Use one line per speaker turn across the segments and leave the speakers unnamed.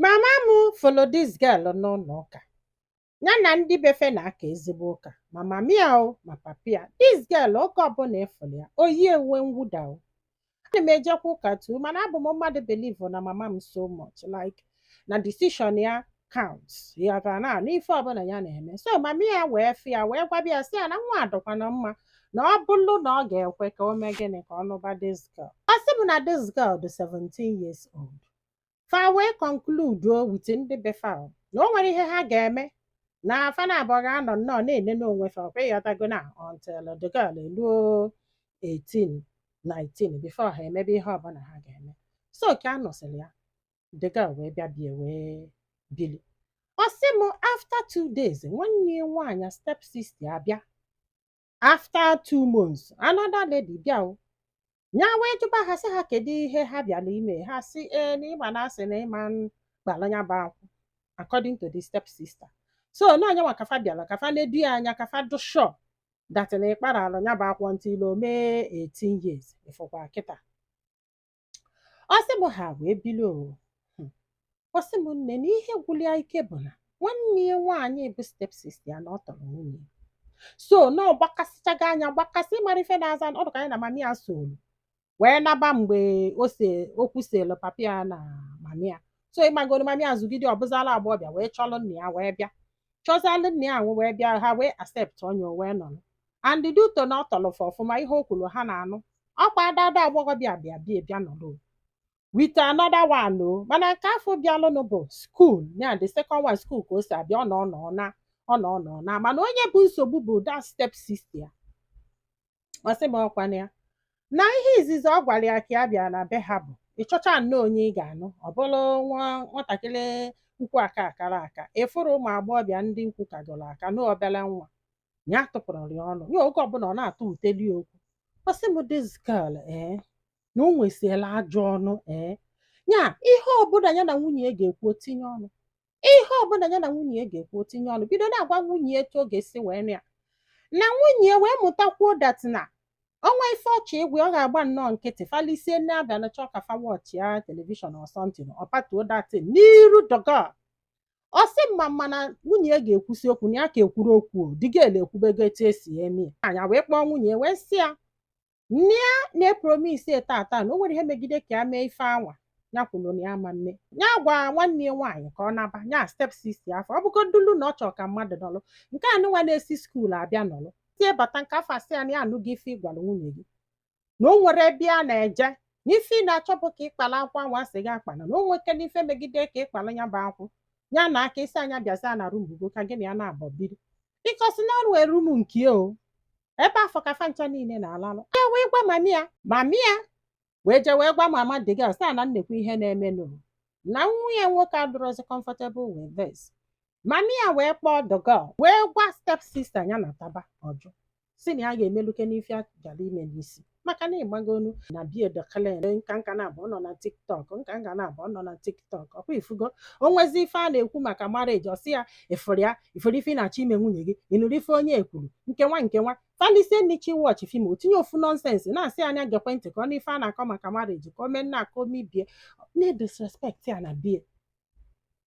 Mama m fụlụ dis girl n'ụlọ ụka. Ya na ndị befe na-aka ezigbo ụka. Ma mama ya o, ma papa ya. Dis girl oge ọbụla ị fụrụ ya, o yie uwe mwụda o. Ana m ejekwa ụka too, mana abụ m mmadụ believe na mama m so much like na decision ya counts. Ị ghọtara na n'ife ọbụla ya na-eme. So mama ya wee fụ ya wee gwaba ya sị ya na nwa a dịkwana mma na ọ bụrụ na ọ ga-ekwe ka o mee gịnị ka ọ nụba dis girl. Ọ sị m na dis girl dị 17 years old. fa wee kọnkluduo wit ndị be fa o, na o nwere ihe ha ga-eme na fa na abụọ ga-anọ nnọọ na-ele n'onwe fa ọkwa ị ghọtago na until the girl eluo 18 19 before ha emebe ihe ọbụla ha ga-eme so ka a nụsịrị ya the girl wee bịa bie wee bili ọ sị m after two days nwanne ya nwaanyị step sister abịa after two months another lady bịa o ya wee jụba ha sị ha kedu ihe ha bịara ime ha sị ee na ịma na a sị na ịma m gbara ya bụ akwụ according to the step sister so na onye nwa ka fa bịara ka fa nedo ya anya ka fa dụ shọ dat na ịkpara alụ ya bụ akwụ until o mee 18 years ị fụkwa kịta Ọ sị m ha wee bilie o. Hmm. Ọ sị m nne na ihe gwụrụ ya ike bụ na nwanne ya nwaanyị bụ stepsis ya na ọ tọrọ nwunye ya. So na ọ gbakasịchago anya gbakasị mara ife na-aza ọ dịka ya na mama ya soro wee naba mgbe okwu selu papa ya na mama ya. So ị magoro mama ya zụgide ọ bụzalụ agbọghọbịa wee chọrọ nna ya wee bịa. Chọzalụ nna ya wee bịa ha wee acceptuo ya o wee nọrọ. and due to na ọ tọrọ fa ọfụma ihe o kwuru ha na-anụ ọkwa that agbọghọbịa bịa bịa bịa nọrọ with another one o mana nke afụ bịalụnụ bụ skuul ya the second one skuul ka o si abịa ọ nọọ nọọ naa ọ nọọ nọọ naa mana onye bụ nsogbu bụ that step sister ya ọ sị m ọkwa na ya na ihe izizi ọ gwara ya ka ya bịa na be ha bụ ị chọchaa nnọọ onye ị ga-anụ ọ bụrụ nwa nwatakịrị ukwu aka akarọ aka ị fụrọ ụmụ agbọghọbịa ndị ukwu kagoro aka na obere nwa ya tụpụrụ ya ọnụ ya oge ọbụla ọ na-atụtụlị okwu ọ sị m this girl ee na o nwesili ajọ ọnụ ee ya ihe ọbụla ya na nwunye ya ga-ekwu o tinye ọnụ ihe ọbụla ya na nwunye ya ga-ekwu o tinye ọnụ bido na-agwa nwunye ya etu ọ ga-esi wee nụ ya na nwunye ya wee mụtakwuo dat na o nwee ife ọ chọ ịgwa ọ ga-agba nnọọ nkịtị fa lisie nni abịa na chọọ ka fa wọchịa telivishọn or something ọ patuo dat tin n'iru dọgọ ọ sị m ma mana nwunye ya ga-ekwusi okwu na ya ka ekwuru okwu o, the girl ekwubego etu e si eme ya ya wee kpọọ nwunye ya wee sị ya nne ya na-epromis tata na o nwere ihe megide ka ya mee ife anwa ya kwuru na ya ama mme ya gwa nwanne ya nwaanyị ka ọ naba ya step sis ya afụ ọ bụgodulu na ọ chọrọ ka mmadụ nọlụ nke a nụnwa na-esi skuul abịa nọlụ till ya bata nke afụ asị ya na ya anụghị ife ị gwara nwunye gị na o nwerọ ebe a na-eje na ife ị na-achọ bụ ka ị kpala akwụ ahụ a sị gị akpala na o nwekene ife megide ka ị kpala ya bụ akwụ ya na aka ị sị ya nya bịaza na rum ugo ka gị na ya na-abọ biri bikọs na o nwere rum nke o ebe afụ ka fa ncha niile na-alalụ ya wee gwa mami ya mami ya wee jee wee gwa mama the girl sị na nnekwu ihe na-emenụ na nwa ya nwoke adịrọzi comfortable with this mami ya wee kpọọ the girl wee gwa step sister ya nataba ọ jụ sị na ya ga-emelukene ife a gara ime n'isi maka na ịgbago onu na be ya doklen nka nka na-abụ ọ nọ na tiktok nka nka na-abụ ọ nọ na tiktok ọ kwa ị fụgo o nwezi ife a na-ekwu maka marriage ọ sị ya ị fụrụ ya ị fụrụ ife ị na-achọ ime nwunye gị ị nụrụ ife onye a kwuru nkewa nkewa fa lisie nni sị wọchị fim o tinye ofu nọnsensị na-asị ya nya gekwe ntị ka ọ nụ ife a na-akọ maka marriage ka o mee nna aka omibie na-edisrespekt ya na be ya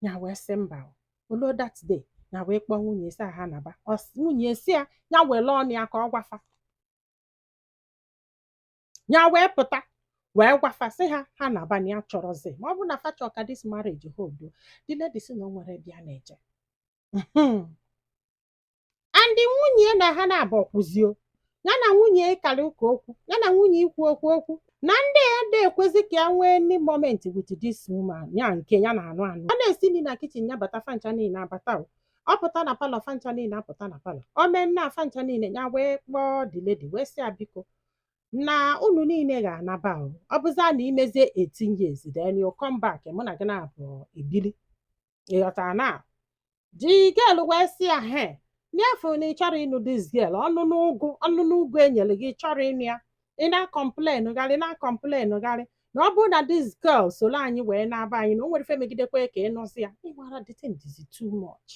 ya wee sị mba o. o luo that day ya wee kpọọ nwunye ya sị ya ha naba nwunye ya sị ya nya were ọnụ ya ka ọ gwa fa ya wee pụta wee gwa fa sị ha ha naba na ya achọrọzi ma ọ bụrụ na fa chọọ ka this marriage hold the lady sị na o nwerọ ebe a na-eje and nwunye ya na ha na-abụ okwuzi o ya na nwunye ya ịkarị ụka okwu ya na nwunye ya ikwu okwu okwu na ndị a ada ekwezi ka ya nwee any moment with this woman ya nke ya na-anụ anụ ọ na-esi nri na kichin ya bata fa ncha niile abata o. ọ pụta na palọ fa ncha niile apụta na palọ o mee nna fa ncha niile ya wee kpọọ the lady wee sị ya biko na unu niile ga-anaba o ọ bụzịa na i mezie 18 years then you come back mụ na gị na-abọ ebili ị ghọtara na the girl wee sị ya he na-afụ na ị chọrọ ịnụ this girl ọnụ n'ụgụ ọnụ n'ụgụ e nyere gị ị chọrọ ịnụ ya ị na-akọmplen gharị na-akọmplen gharị na ọ bụrụ na this girl soro anyị wee naba anyị na o nwere ife megidekwa ka ị nụzi ya ịgbara the thing dịzi too much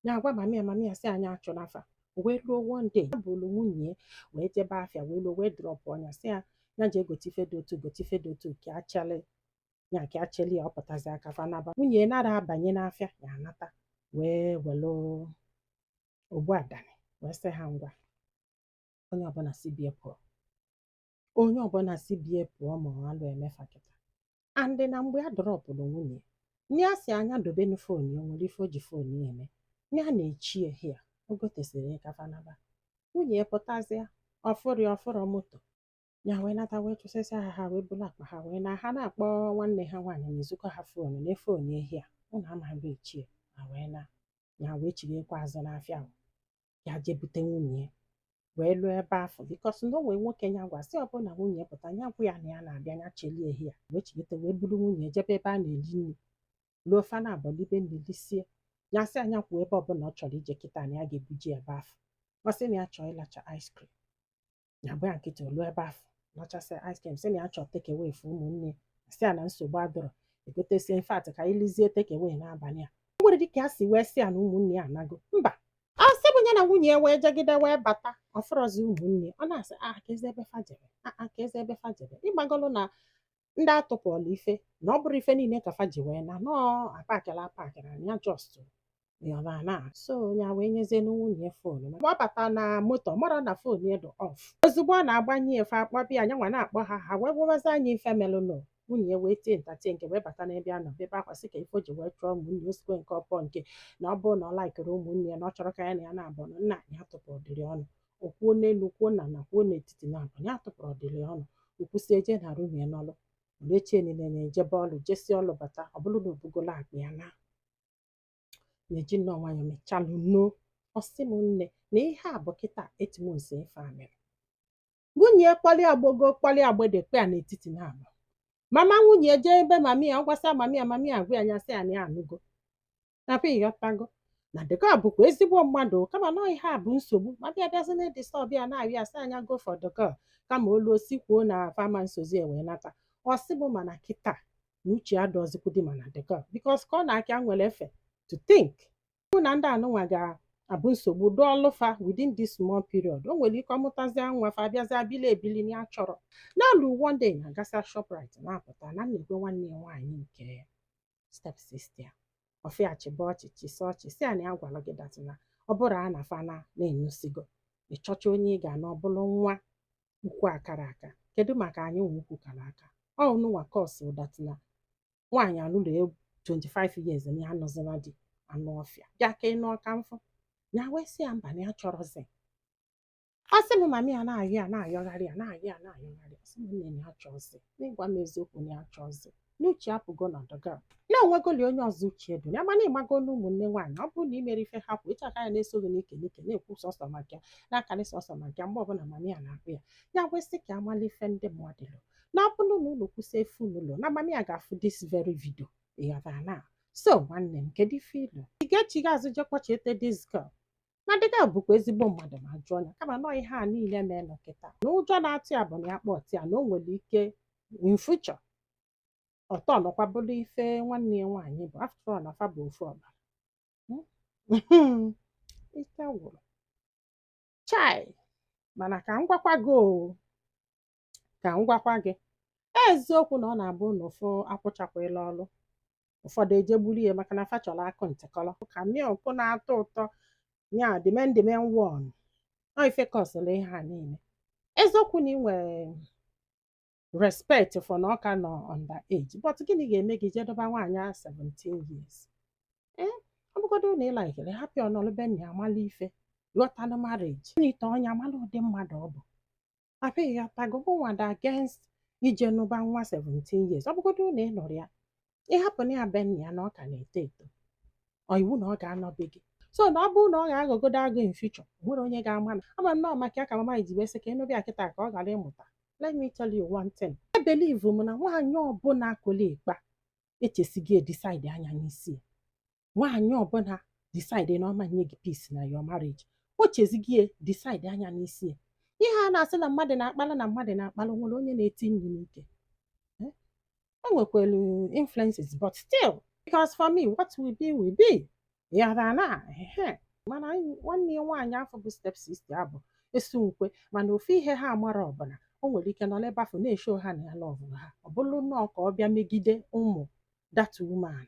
ya agwa mami ya mami ya sị ya nya chụnaa fa wee ruo one day ya buru nwunye ya wee jebe afịa wee ruo wee drọpụọ ya sị ya ya jee gote ife dị otu gote ife dị otu ka a cheli ya ka a cheli ya ọ pụtazia ka fa naba nwunye ya nara abanye n'afịa ya anata wee were ogbu adani wee sị ha ngwa onye ọbụla si be ya pụọ onye ọbụla si be ya pụọ ma alụ eme fa kịta and na mgbe a drọpụrụ nwunye ya nya asị ya nya dobenụ fon ya o nwere ife o ji fon ya eme na ya na-eche ya here o gotesịrị ya ka fa naba nwunye ya pụtazịa ọ fụrọ ọ fụrọ moto ya wee nata wee chụsịsịa ha ha wee buru akpa ha wee naa ha na-akpọ nwanne ha nwaanyị na ezukọ ha foonu na fon ya ehi a ụnụ amaghị ichie ha wee naa ya wee chighakwa azụ n'afịa ahụ ya jee bute nwunye ya wee luo ebe afụ bikọs na o nwe nwoke ya gwa sị ọ bụrụ na nwunye ya pụta ya gwa ya na ya na-abịa ya cheli ya here ya wee chighata wee buru nwunye jebe ebe a na-eli nri luo fa na-abọ libe nri lisie ya sị ya nya kwuo ebe ọbụla ọ chọrọ ije kịta na ya ga-ebuje ya ebe afụ ọ sị na ya chọọ ịlacha ice cream ya bụ ya kịta o lu ebe afụ lachasị ice cream sị na ya chọọ take away for ụmụnne sị ya na nsogbu adịrọ e gotesie in fact ka anyị lizie take away n'abalị a o nwere dịka ya si wee sị ya na ụmụnne ya anago mba ọ sị bụ ya na nwunye ya wee jegide wee bata ọ fụrọzi ụmụnne ọ na-asị ah keezi ebe fa jebe ah ah keezi ebe fa jebe ị magolu na ndị atụpụọla ife na ọ bụrụ ife niile ka fa ji wee na nọọ apakịla apakịla na ya just yọba na so ya wee nyezie nwunye phone ma ọ bata na moto marọ na phone ya dị off ozugbo ọ na-agbanye ya fa akpọba ya nyanwa na-akpọ ha ha wee gwabazia nya ife melụnụ nwunye ya wee tie nta tie nke wee bata n'ebe a nọ bebe akwa sị kee ife o ji wee chụọ ụmụnne osikwe nke ọpọ nke na ọ bụrụ na ọ laikịrọ ụmụnne ya na ọ chọrọ ka ya na ya na-abụ na nna anyị atụpụ dịrị ọnụ o kwuo n'elu kwuo n'ana kwuo n'etiti na abụ ya tụpụrụ ọdịrị ọnụ o kwusi eje na arụ nwunye n'ọlụ o lue echi niile na-ejebe ọlụ jesi ọlụ bata ọ bụrụ na o bugolu akpa ya na na-eji nnọọ nwayọ mechalụ no ọ sị m nne na ihe a bụ kịta eight months ife a mere nwunye kpali agbogo kpali agbede kpe ya n'etiti naa be mama nwunye jee ebe mami ya ọ gwasịa mami ya mami ya agwa ya nya sị ya na ya anụgo na be ịghọtago na the girl bụkwa ezigbo mmadụ kama na ihe a bụ nsogbu mami ya bịazi na-adisturb ya na-arị asị anya go for the girl kama olu o si kwuo na fama nsozi e wee nata ọ sị bụ mana kịta na uche ya adịzikwudi mana the girl because ka ọ na-akị a nwere ife to think bụ na ndị anụnwa ga-abụ nsogbu dịịlị fa within this small period o nwere ike ọ mụtazi nwa fa abịazi bili ebili na ya chọrọ na o lu one day na-agasị shoprite na-apụta na nekwa nwanne ya nwaanyị nke ya stepsister ya ọ fụ ya chịba ọchị chịsa ọchị sị ya na ya agwarọ gị that na ọ bụrụ a na fana na-enyụsigo ị chọcha onye ị ga-anụ ọ bụrụ nwa ukwu akarọ aka kedu maka anyị nwa ukwu kara aka ọ nụnwa kọsụ that na nwaanyị alụrụ 25 years na ya anọzila di anụ ọfịa bịa ka ị nụ ọka mfọ ya wee sị ya mba na ya achọrọzi ọ sị m mami ya na-ayọ ya na-ayọgharị a na-ayọ a na-ayọgharị sị m nne ya achọrọzi n'ịgwa m eziokwu na ya achọrọzi na uche apụgo na the girl na o nwegoli onye ọzọ uche dị ya mana ị mago na ụmụnne nwaanyị ọ bụrụ na imere ife ha kwụ ịchaka ya na-eso gị n'ike n'ike na-ekwu sọsọ maka ya na-akarị sọsọ maka ya mgbe ọbụla mami ya na-akpọ ya ya wee sị ka a mala ife ndị mmadụ lo na ọ bụrụ na unu kwusie ife unu lo na mami ya ga-afụ this very video ịghọtara na so nwanne m kedu ife i lo ị ga-echigha azụ je kpọchete this girl na the girl bụkwa ezigbo mmadụ ma jụọ ya kama nọọ ihe a niile na-eme kịta na ụjọ na-atụ ya bụ na ya kpọta ya na o nwere ike in future ọ turnụkwa bụrụ ife nwanne ya nwaanyị bụ after all na fa bụ ofu ọbara ike gwụrụ chai mana ka m gwakwa gị o ka m gwakwa gị eziokwu na ọ na-abụ na ụfụ akwụchakwala ọrụ ụfọdụ eje gburu ya maka na fa chọrọ akụ ntịkọrọ ka milk na-atọ ụtọ ya dimendimen won ọ ife kọsịrị ihe a niile eziokwu na ị nwere respect for na ọ ka nọ under age but gịnị ga-eme gị jee dọba nwaanyị a 17 years ee ọ bụgodo na ị laikere hapụ ya ọ nọlụ be nna ya amala ife ghọtala marriage ị nụta onye amala ụdị mmadụ ọ bụ papa ị ghọtago mụnwa dị against ije nụba nwa 17 years ọ bụgodo na ị nụrụ ya ị hapụnụ ya be nna ya na ọ ka na-eto eto ọ iwu na ọ ga-anọ be gị so na ọ bụrụ na ọ ga-aghọgodo agụ in future o nwere onye ga-ama na ama nnọọ maka ya ka mama ji wee sị ka ị nụbe ya kịta ka ọ ghara ịmụta let me tell you one thing ebelivu m na nwaanyị ọbụla kola ịkpa echesighị decide anya n'isi ya nwaanyị ọbụla decide na ọ ma nye gị peace na your marriage o chezighị ya decide anya n'isi ya ihe a na-asị na mmadụ na-akpala na mmadụ na-akpala o nwere onye na-eti nri n'ike Eh? e nwekwelu influences but still because for me what will be will be yara na ehe mana anyị- nwanne ya nwaanyị afụ bụ step sister abụ esi nkwe mana ofu ihe ha mara ọ bụ na o nwere ike nọ n'ebe afụ na-esho ha na ya lọvụrụ ha ọ bụrụ nnọọ ka ọ bịa megide ụmụ that woman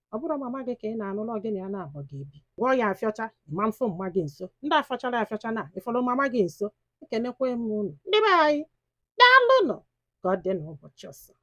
ọ bụrụ mama gị ka ị na-anụlụ ọ gị na ya naabọ ga-ebi gwọ ya afịọcha ma mfụ mama gị nso ndị afọchara afịọcha na ị fọrọ mama gị nso ekenekwa m unu ndị be anyị daalụnụ ka ọ dị n'ụbọchị ọzọ